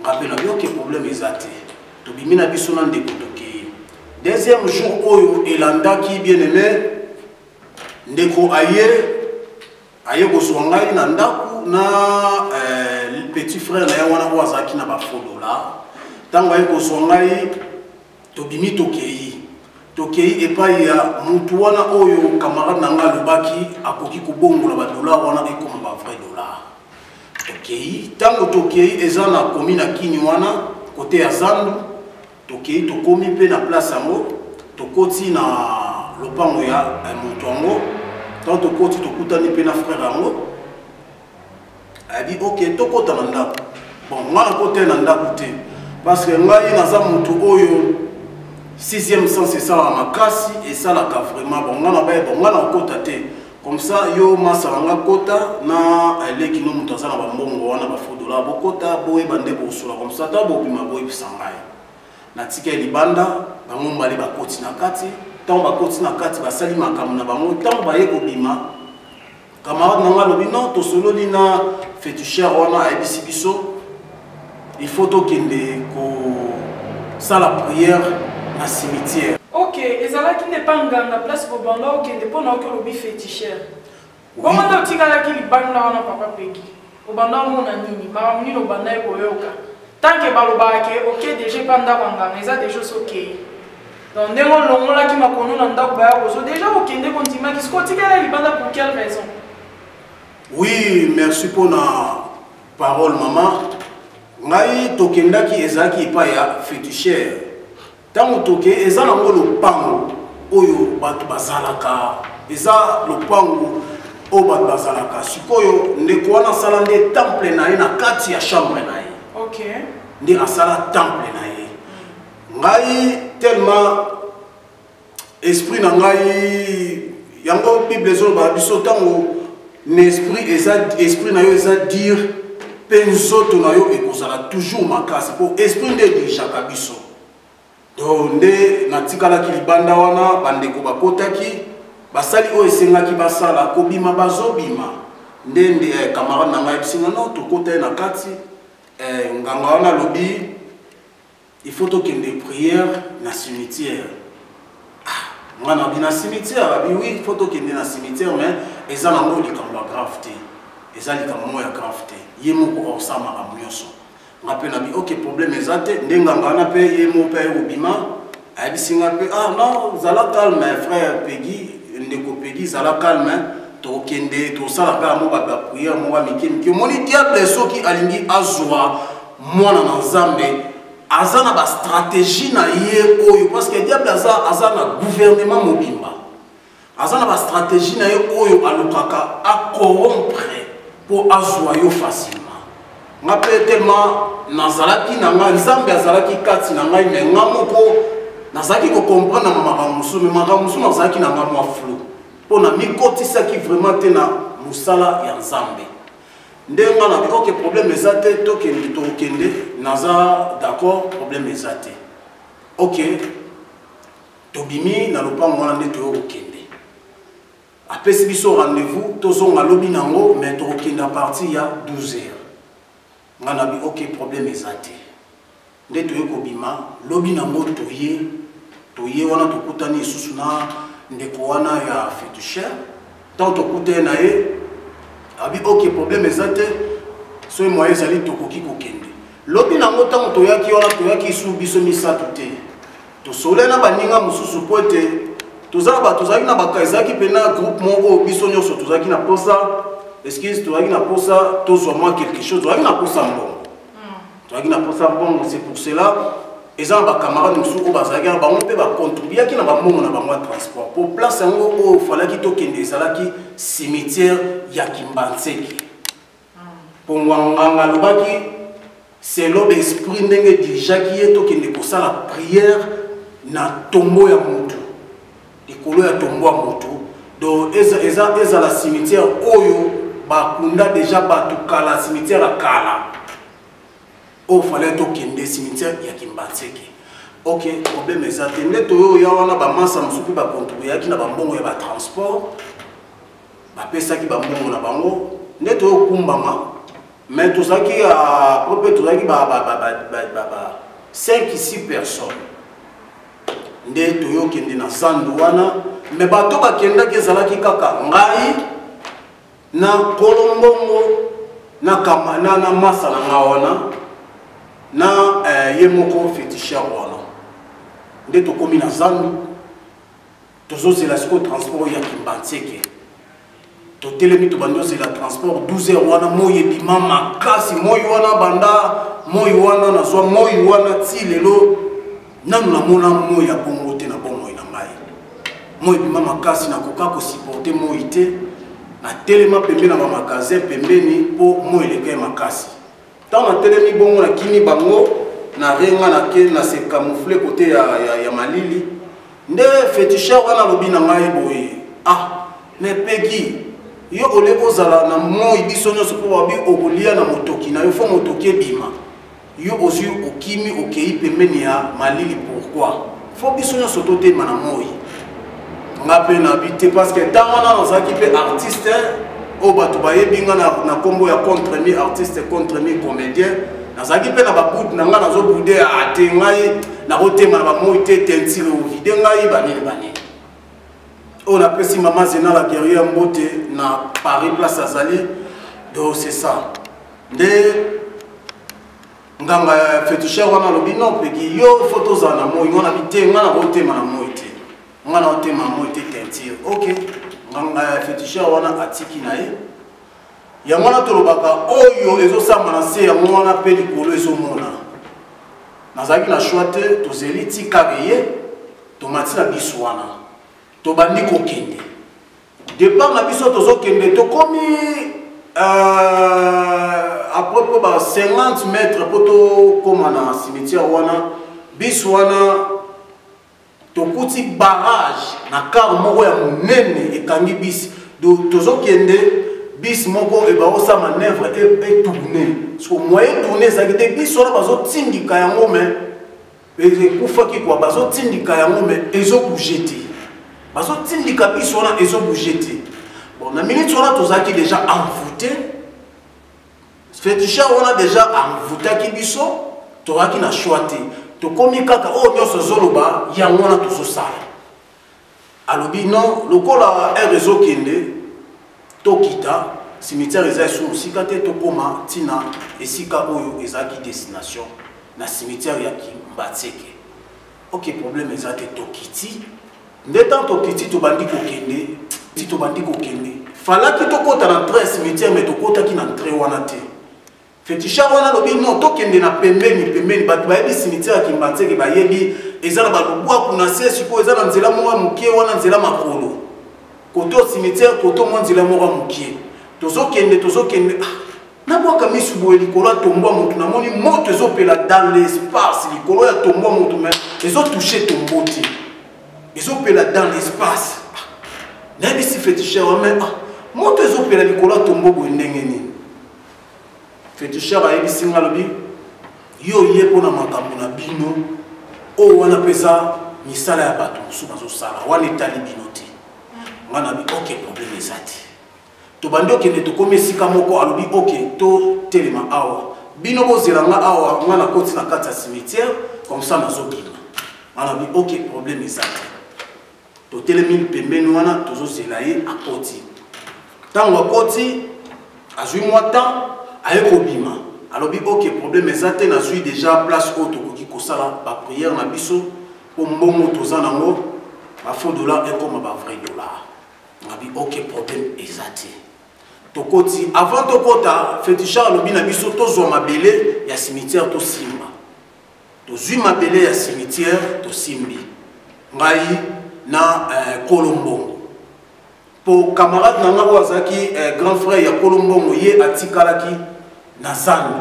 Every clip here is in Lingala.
Nga pe na yoke problème eza te. Tobimi na biso na ndeko tokei. Deuxième jour oyo elandaki bien aimé ndeko aye aye kozwa ngai na ndako na euh, petit frère na ye wana oyo azalaki na bafolola ntango aye kozwa ngai Tobimi tokei. Tokei epai ya mutu wana oyo camarade na nga alobaki akoki kobongola ba dollars wana ekoma ba vrai dollars. Tokei. Tango tokei eza na commune ya Kini wana cote ya Zandu. Tokei tokomi pe na place yango. Tokoti na lopango ya mutu yango. Tango tokoti tokutani pe na frère yango. adi ok tokota na ndako bon nga nakota ye na ndako te parce que ngai naza motu oyo sixième sens esalaka makasi esalaka vraiment bon nga nabaye bon nga nakota te comme ça yo masa na nga kota na eleki no moto aza na bambongo wana bafodola bokota boyeba nde bosola comme ça ta bobima boyebisa ngai natika ye libanda bango mibale bakoti na kati ntango bakoti na kati basali makambo na bango ntango baye kobima camarade na ngai alobi non tosololi na fetucher wana ayebisi biso il faut tokende kosala prière na cimetière ok ezalaki nde mpa nganga place kobanda okende mpo na oki olobi fetichere bongo nde otikalaki libanda wana papa peki Obanda omona nini? Makambo nini obandaki koyoka? Tant que balobaka ke oke deja epa ndako ya nganga, eza deja osi okei. Donc ndenge olongolaki makono na ndako baya kozo, deja okende kondimaki, siko otikela libanda pour quelle raison? Oui, merci pour na parole maman. Ngai tokendaki ezalaki epa ya feticheur. Tango toke eza na ngo lopango oyo bato bazalaka eza lopango oyo bato bazalaka sikoyo ndeko wana asala nde temple na ye na kati ya chambre na ye okay. nde asala temple na ye ngai tellement esprit na ngai yango bible ezoloba biso ntango na esprit eza esprit na yo eza dire mpe nzoto na yo ekozala toujours makasi mpo esprit nde edirigeaka biso to nde natikalaki libanda wana bandeko bakotaki basali oyo esengaki basala kobima bazobima nde nde eh, camarade na ngai bisinga no tokota ye na kati eh, nganga wana alobi il faut tokende prière na cimetière ah, ngai nabi na cimetière abi oui il faut tokende na cimetière mais eza nango likambo ya grave te eza likambo moko ya grave te ye moko akosalamaka nyonso nga pe nabi ok problème eza te nde nganga wana pe ye mo pe aye kobima ayebisi nga pe ah non zala calme frère pegi ndeko pegi zala calme tokende tosala kaka mo bato ya priere mo ba mike mike omoni diable soki alingi azwa mwana na nzambe aza na bastratégie na ye oyo parce que diable aza, aza na gouvernement mobimba aza na bastratégie na ye oyo alukaka acorompre mpo azwa yo facilement nga mpe telema nazalaki na ngai nzambe azalaki kati na ngai me nga moko nazalaki kocomprendre na makambo mosusu me makambo mosusu nazalaki na ngai mwa flou mpo na mikotisaki vraiment te na mosala ya nzambe nde nga na oke problème eza te tokende tokende naza d'accord problème eza te ok Tobimi na lopango wana nde toyo kokende. Apesi biso rendez-vous tozonga lobi nango mais tokokende à partir ya 12 heures. Nga na bi ok problème eza te. Nde toye kobima lobi nango toye toye wana tokutani lisusu na ndeko wana ya fetuchère Ntango tokutani na ye, abi ok, problème eza te, soki moyen ezali tokoki kokende. Lobi na yango ntango toyaki wana, toyaki su biso misato te, tosololi na baninga mosusu mpo ete tozala bato tozalaki na baka ezalaki mpena groupe moko oyo biso nyonso tozalaki na mposa excuse tozalaki na mposa tozwa mwa quelque chose tozalaki na mposa mbongo tozalaki na mposa mbongo c'est pour cela eza na bacamarade mosusu oyo bazalaki na bango mpe bacontribuaki na bambongo na bango ya transport mpo place yango oyo falaki tokende ezalaki cimetière ya kimbanseki mpo ngwanganga alobaki selo baesprit ndenge dirijaki ye tokende kosala prière na tombo ya motu likolo ya tombo ya moto donc ezala cimetière oyo bakunda deja bato kala cimetière ya kala oyo fale tokende cimetière ya kimbanseke ok problème eza te nde toyo ya wana bamansa mosusu mpe bakontribueyaki na bambongo ya batransport bapesaki bambongo na bango nde toyokumbama mais tozalaki mpe tozalaki 5 6 personnes nde toyokende na zando wana me bato bakendaki ezalaki kaka ngai na kolombongo na kamana na masa na nga wana na eh, ye moko fetisher wana nde tokomi na zando tozozela sikoyo transport oyo ya kimbanseke totelemi tobandi ozela transport 12 heures wana moi ebima makasi moi wana banda moi wana nazwa moi wana ti lelo nanu namona moi ya bongo te na bomoi na ngai moi ebima makasi nakoka kosiporte moi te natelema pembeni na bamagasin pembeni mpo moi elekei makasi Tant na telemi bongo na kimi bango na renga na ke na se camoufler côté ya, ya, ya malili nde feticheur wana alobi na ngai boye ah mais pegi yo olie kozala na moi biso nyonso mpo babi okolia na motoki na yo fo motoki ebima yo ozwi okimi okei pembeni ya malili pourkui fo biso nyonso totema na moi nga mpe nabi te parce que ntango wana nazalaki mpe artiste oyo bato bayebi nga na nkombo ya contre mi artiste contre mi comédien nazalaki mpe na babude na ngai nazobude ate ah, ngai nakotema na bamoi te tentire ovide ngai banini banini oyo napesi mama zena la guerrier mbote na paris place azali do c'est ça nde nganga ya fetisher wana alobi no peki yo fo tozala na moi ngana bite nga nakotema na moi te nga nakotema na moi te tentire ok nganga ya fetisher wana atiki na ye yango wana tolobaka oyo ezosamba na se yango wana mpe likolo ezomona nazalaki na shoi te tozeli tikaka ye tomati na biso wana tobandi kokende départ na biso tozokende tokomi euh, après mpo ba 50 mètre mpo tokóma na cimetière wana bis wana tokuti barrage na kar moko ya monene ekangi bis tozokende bis moko ebaosa manœuvre etourne soki moye etourne ezalaki te bis wana bazotindika yango mai ekufaki kwa bazotindika yango me ezobouge te bazotindika biso wana ezobouge te bon na minute wana tozalaki déjà envoute fetisha wana déjà envoutaki biso tozalaki na choix te tokomi kaka oyo oh, nyonso ezoloba yango wana tozosala alobi non lokola heure ezokende tokita cimetière eza esu mosika te tokóma ntina esika oyo ezalaki destination na cimetière ya kimbatseke ok problème eza te tokiti nde ntango tokiti tobandi kokende ti tobandi kokende falaki tokɔta na train cimetière me tokɔtaki na train wana te Fetisha wana alobi non tokende na pembeni pembeni bato bayebi cimetière ya Kimbanseke bayebi eza na balubwaku na se sikoyo eza na nzela moko ya mokie wana nzela makolo koto cimetière koto mwa nzela moko ya mokie tozokende tozokende ah, nabwaka misu boye likolo ya tombwa motu namoni moto ezopela dans l'espace likolo ya tombwa motu me ezotouche tombo te ezopela dans l'espace ah, nayebisi fetisher wame ah, moto ezopela likolo ya tombo boye ndenge nini Fetushar ayebisi nga alobi yo oye mpo na makambo na bino oyo wana mpe eza misala ya bato mosusu bazosala wana etali bino te nga nabi ok probleme eza te tobandi okende tokomi esika moko alobi ok totelema awa bino bozela nga awa nga nakoti na kati ya cimetière comme ça nazokima nga nabi ok probleme eza te totelemi pembeni wana tozozela ye akoti ntango akoti azwi mwa temps aye kobima alobi ok problème eza te nazwi déjà place oyo tokoki kosala baprière na biso mpo mbongo toza nango bafaux dollar ekoma bavrai dollar ngabi ok problème eza te tokoti avant tokota fetichar alobi na biso tozwa mabele ya cimetière tosimba tozwi mabele ya cimetière tosimbi ngai na eh, kolombongo mpo camarade na ngai oyo azalaki eh, grand frère ya kolombongo ye atikalaki na zando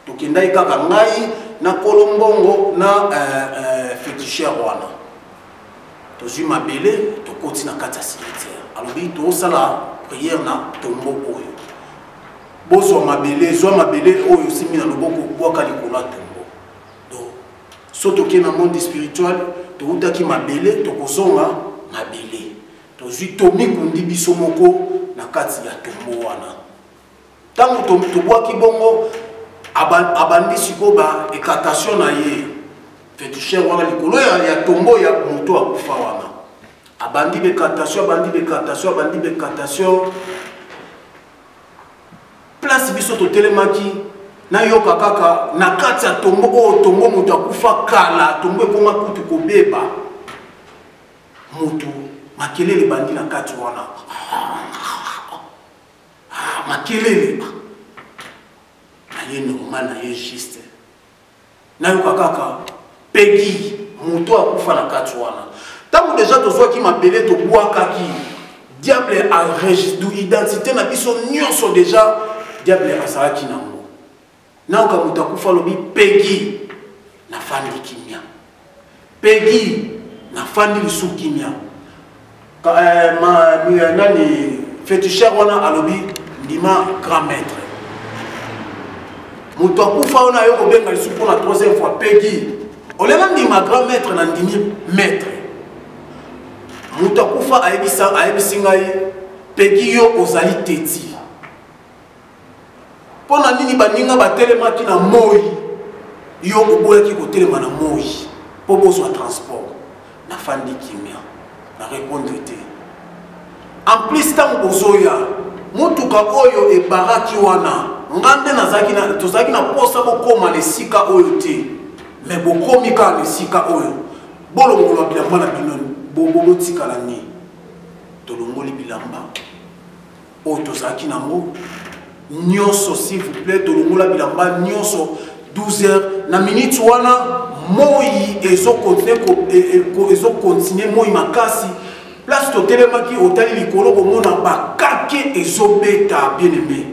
tokendaki kaka ngai na kolombongo na eh, eh, fetisher wana tozwi mabele tokoti na kati ya cimetière alobi tosala prière na tombo oyo bozwa mabele zwa mabele oyo osimbi na loboko bwaka likolo ya tongo donc so tokei na monde spirituel towutaki mabele tokozonga mabele tozwi tomikundi biso moko na kati ya tongo wana ntango tobwaki bongo abandi sikoyo ba ekatation na ye fetusher wana likolo ya tongo ya moto akufa wana abandi bekatation abandi bekatation abandi bekatation place biso totelemaki nayoka kaka na kati ya tongo oyo tongo moto akufa kala tongo ekoma kutu kobeba moto makelele ebandi na kati wana makelele naye normal naye juste nayoka kaka pegi moto akufa na kati wana ntango deja tozwaki mabele tobwakaki diable aregisdu identité na biso nyonso deja diable azalaki nango nayoka moto akufa alobi pegi nafandi kimia Peggy na fandi lisusu kimia eh, ma eh, nani fetisher wana alobi ndima grand maître moto akufa wana ayo kobenga lisusu mpo na troisième fois pegi olela ndima grand maître na ndimi maître moto akufa ayebisi ngai pegi yo ozali teti mpo na nini baninga batelemaki na moi yo oboyaki kotelema na moi mpo bozwa transport nafandi kimia na repondre te en plus ntango bozoya motuka oyo ebaraki wana nga nde nazalaki tozalaki na mposa bokóma na esika oyo te me bokomi kaka na esika oyo bolongola bilamba na bino botikala nini tolongoli bilamba oyo tozalaki nango nyonso s'il vous plaît tolongola bilamba nyonso 12 heures na minute wana moi ezokontinue e, e, moi makasi place totelemaki otali likolo komona bakake ezobeta bien aime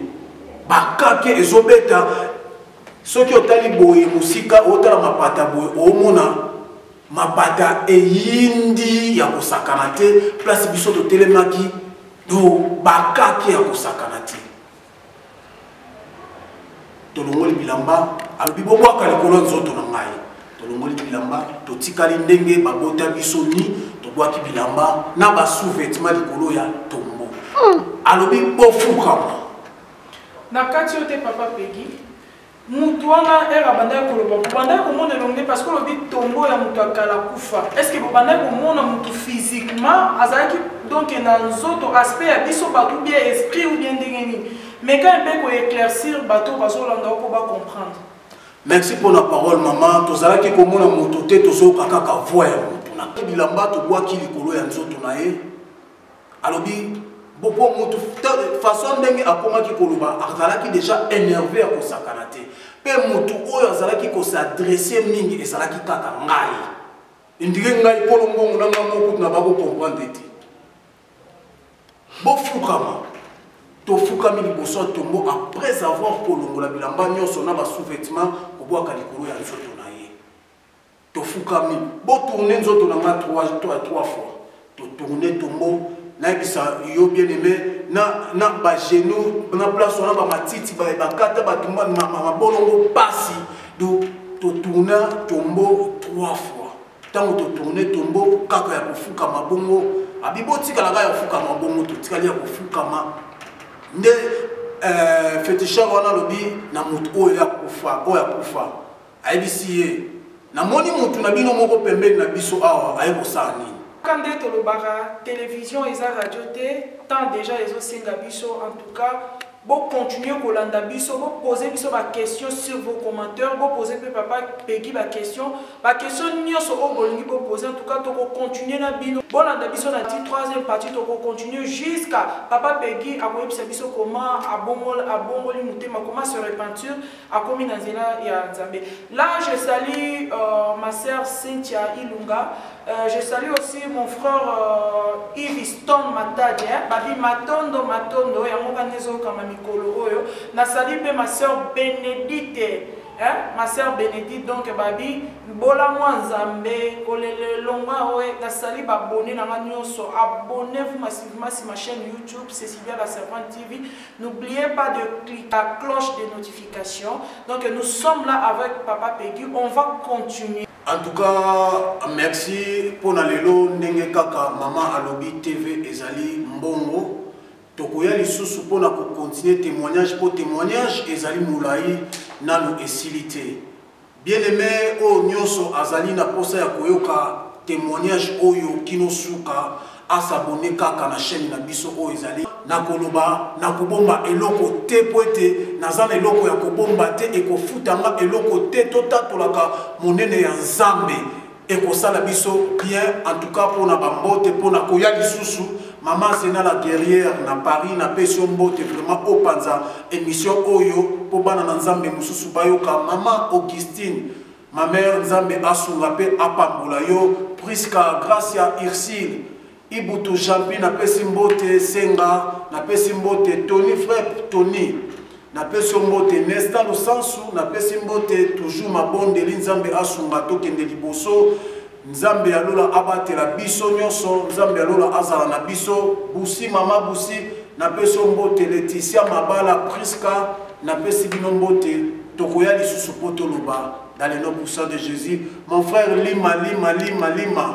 bakake ezobeta soki otali boye mosika otala mapata boye omona mabata eyindi ya kosakana te place biso totelemaki do bakaki ya kosakana te tolongoli bilamba alobi bobwaka likolo ya nzoto na ngai tolongoli bilamba totikali ndenge babota biso ni tobwaki bilamba na basouvetement likolo ya tombo hmm. alobi bofukama na kati yo te papa pegi Mutu wana heure abandaki koloba bobandaki komona elongi parce que olobi tombo ya mutu ya kala kufa est ce que bobandaki komona mutu physiquement azalaki donc na nzoto aspect ya biso bato bien esprit ou bien ndenge nini mais quand mpe ko éclaircir bato bazolanda oko ba comprendre merci mpo na parole mama tozalaki komona moto te tozoyoka kaka voi ya moto na bilamba tobwaki likolo ya nzoto na ye alobi po motu façon ndenge akomaki koloba azalaki déjà énervé ya kosakana te mpe motu oyo azalaki kosadresse mingi ezalaki kaka ngai indike ngai kolo mbongo na ngai moko kutu na bakokomprendre te bofukama tofukami liboso ya tombo après avoir kolongola bilamba nyonso na basous-vêtement kobwaka likolo ya nzoto Tofukami, bo tourner nzoto na nga trois trois trois fois. To tourner tombo, nayebisa yo bien aime, na na ba genoux, na place wana ba matiti ba bakata ba tumba ma ma mabolongo pasi. Do to tourner tombo trois fois. ntango totourne tombo kaka ya kofukama bongo abi botikala kaka ya kofukama bongo totikali ya kofukama nde euh, feticheur wana alobi na moto oyo ya kufa oyo akufa Ayebisi ye, Namoni mutu na bino moko pembeni na biso awa, aye kosala nini? Kaka nde tolobaka television eza radio te, temps dejà ezo senga biso, en tout cas bo continuer kolanda biso, bo poser biso ba questions sur vos commenteurs, bo poser pe papa Peguy ba questions, ba questions nionso oyo bolingi bo poser, en tout cas toko continuer na bino, bolanda biso na ti troisième partie, toko continuer jusqu'à papa Peguy akoyebisa biso comment abongoli motema, comment se repentir. akomi na nzela ya nzambe là je salue euh, ma sœur cynthia ilunga euh, je salue aussi mon frère euh, iviston matadi hein? babi matondo matondo yango kani ezokama mikolo oyo na salue mpe ma sœur benedite hein? ma sœur benedite donc babi bola mwa nzambe kolelelonga oyo nasali babone na nga nyonso abonnez vous massivement si ma chaîne youtube cecilia la servante tv N'oubliez pas de cliquer la cloche de notification. Donc nous sommes là avec Papa Peggy. On va continuer. En tout cas, merci pour la lelo ndenge kaka maman alobi TV ezali mbongo. Tokoya lisusu pour na continuer témoignage pour témoignage ezali mulayi nanu esilite. Bien aime oyo nyoso azali na posa ya koyoka temoignage oyo kino suka a s'abonner kaka na chaine na biso oyo ezali na koloba na kobomba eloko te po ete naza na eloko ya kobomba te ekofutanga eloko te totatolaka monene ya nzambe Ekosala biso bien en tout cas pona ba mbote pona koya lisusu Maman Zena la guerrière na Paris na pesi yo mbote vraiment opanza emission oyo po bana na Nzambe mususu bayoka Maman Augustine ma mère Nzambe asunga pe apambola yo Prisca Gracia Ursule Ibutu Jeanpy na pesi mbote Senga na pesi mbote Tony Frep Tony na pesi mbote Nesta Lusansu na pesi mbote toujours mabondeli Nzambe asunga tokende liboso nzambe ya lola abatela biso nyonso nzambe ya lola azala na biso busi mama busi napesi yo mbote leticia mabala priska napesi bino mbote tokoya lisusu mpo toloba dans le nom puissant de jésus mon frère lima lima lima lima